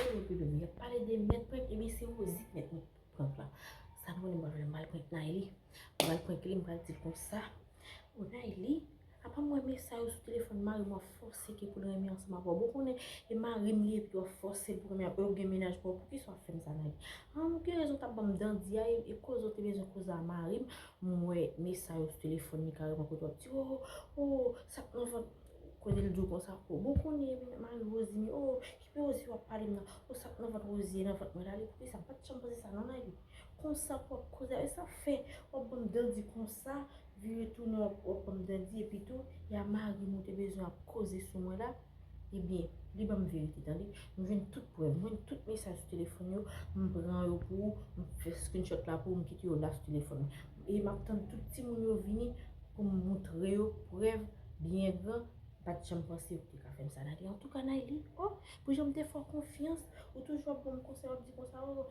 Wi wi wi yap pale de mèt prank ebyen se Rosie ki mèt prank la sa nou menm mwen mal prank Nayli mwen mal prank li mwen pral dil konsa bon Nayli apa mwen wè mesaj ou sou telefòn marim wap fòse ke poul renmen ansanm avèw bon ou konnen e marim li epi wap fòse poul renmen avèw epi ou gen mennaj paw poukisa wap fèm sa Nayli an ou gen rezon tap banm dandi a e koze ou te bezwen koze a marim mwen wè mesaj ou sou telefòn li kareman kote wap di oo oo sak nan vant. Kote l di w konsa oh. Bon kounye menm mari Rosie ni oh kipe Rosie wap pale m nan oh sak nan vant Rosie nan vant mwen la li poukisa m pat janm panse sa nan lavi konsa pou wap koze avèk sa fè wap banm dandi konsa vire tounen wap banm dandi epi tou ya marim ou te bezwen ap koze sou mwen la ebyen li banm verite tande m jwenn tout prèv m jwenn tout mesaj sou telefòn yo m pran yo pou ou m fè screenshot la pou ou m kite yo la sou telefòn mwen epi map tann tout timoun yo vini pou m moutre yo prèv byen gran m pat janm panse yo te ka fè m sa Nayli antouka Nayli o pou jan m te fè w konfyans ou toujou ap ban m konsèy w ap di konsa o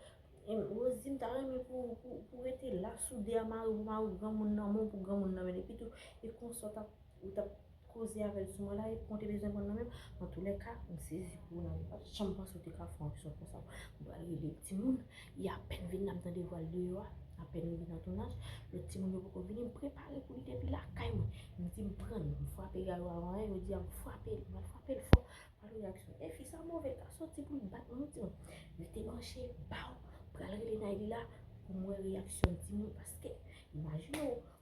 Rosie m ta renmen pou ou rete la soude a mari w pou mari w granmoun nan men w pou granmoun nan men l epitou e konsa w tap koze avèl sou mwen la epi konte bezwen mwen nan menm antoulèka m sezi pou ou nan m pat janm panse ou te ka fè yon aksyon konsa m pral rele timoun li apèn vin la m tande vwal deyò a apèn li vin nan tounaj lòt timoun yo poko vini m prepare pou li depi lakay mwen m di m prann m frape gayou a anyen yo di a m frape li m al frape l fò pral wè aksyon e fi sa move l ka soti pou l bat yon timoun rete branche baww pral rele Nayli la pou m wè reyaksyon timoun paske imajine w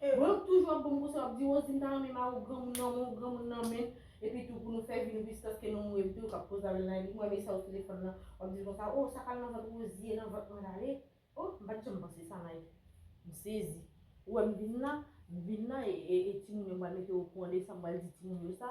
E Rock toujou ap banm konsèy wap di Rosie m ta renmen mari w granmoun nan men w granmoun nan men epi tou pou nou fè vi nou plis paske nou mouri epi tou kap poze avèl nan epi m wè mesaj sou telefòn nan wap dil konsa oh sa kal nan vant Rosie nan vant mwen rale oh m pat janm panse sa Mike m sezi ou wèm vin la m vin la e timoun yo m pral mete okouran de sa m pral di timoun yo sa.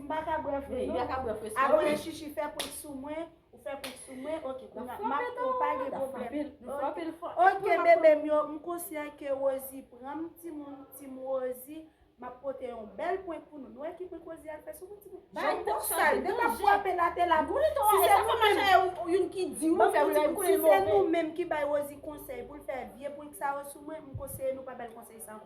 M pa ka bwè fre non. Abone shishi fè prank sou mwen. Ou fè prank sou mwen ok kounya map pranw pa gen pwoblèm. Ok bebem yo m konsyan ke Rosie pranm timoun team Rosie map pote yon bèl prank pou nou. Nou wè ki prank Rosie al fè sou mwen timoun. Jan poun sal de map fwape la te la. Si se nou menm. Si se nou menm ki bay Rosie konsèy poul fè vye prank sa yo sou mwen m konseye nou pa bal konsèy sa ankò.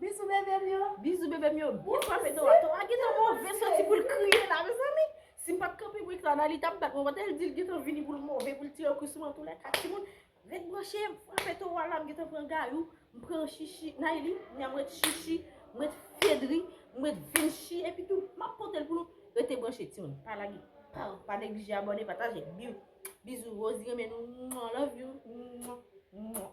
Bizou bebe m yo. Bizou bebe m yo. Byen frape Tora. Tora gen tan move soti pou l kriye la mezanmi. Si m pat kanpe pou Ixana li tap bat mwen. Kote l di l gen tan vini pou l move pou l tire kou sou mwen antoulèka timoun ret branche m frape Tora la m gen tan pran Gayou m pran Shishi Nayli kounya m ret Shishi m ret Fedri m ret Vinshi epi tou map pote l pou nou rete branche timoun pa lage paw pa neglije abòne pataje biw bizou Rosie renmen nou mwah love you mwah mwah.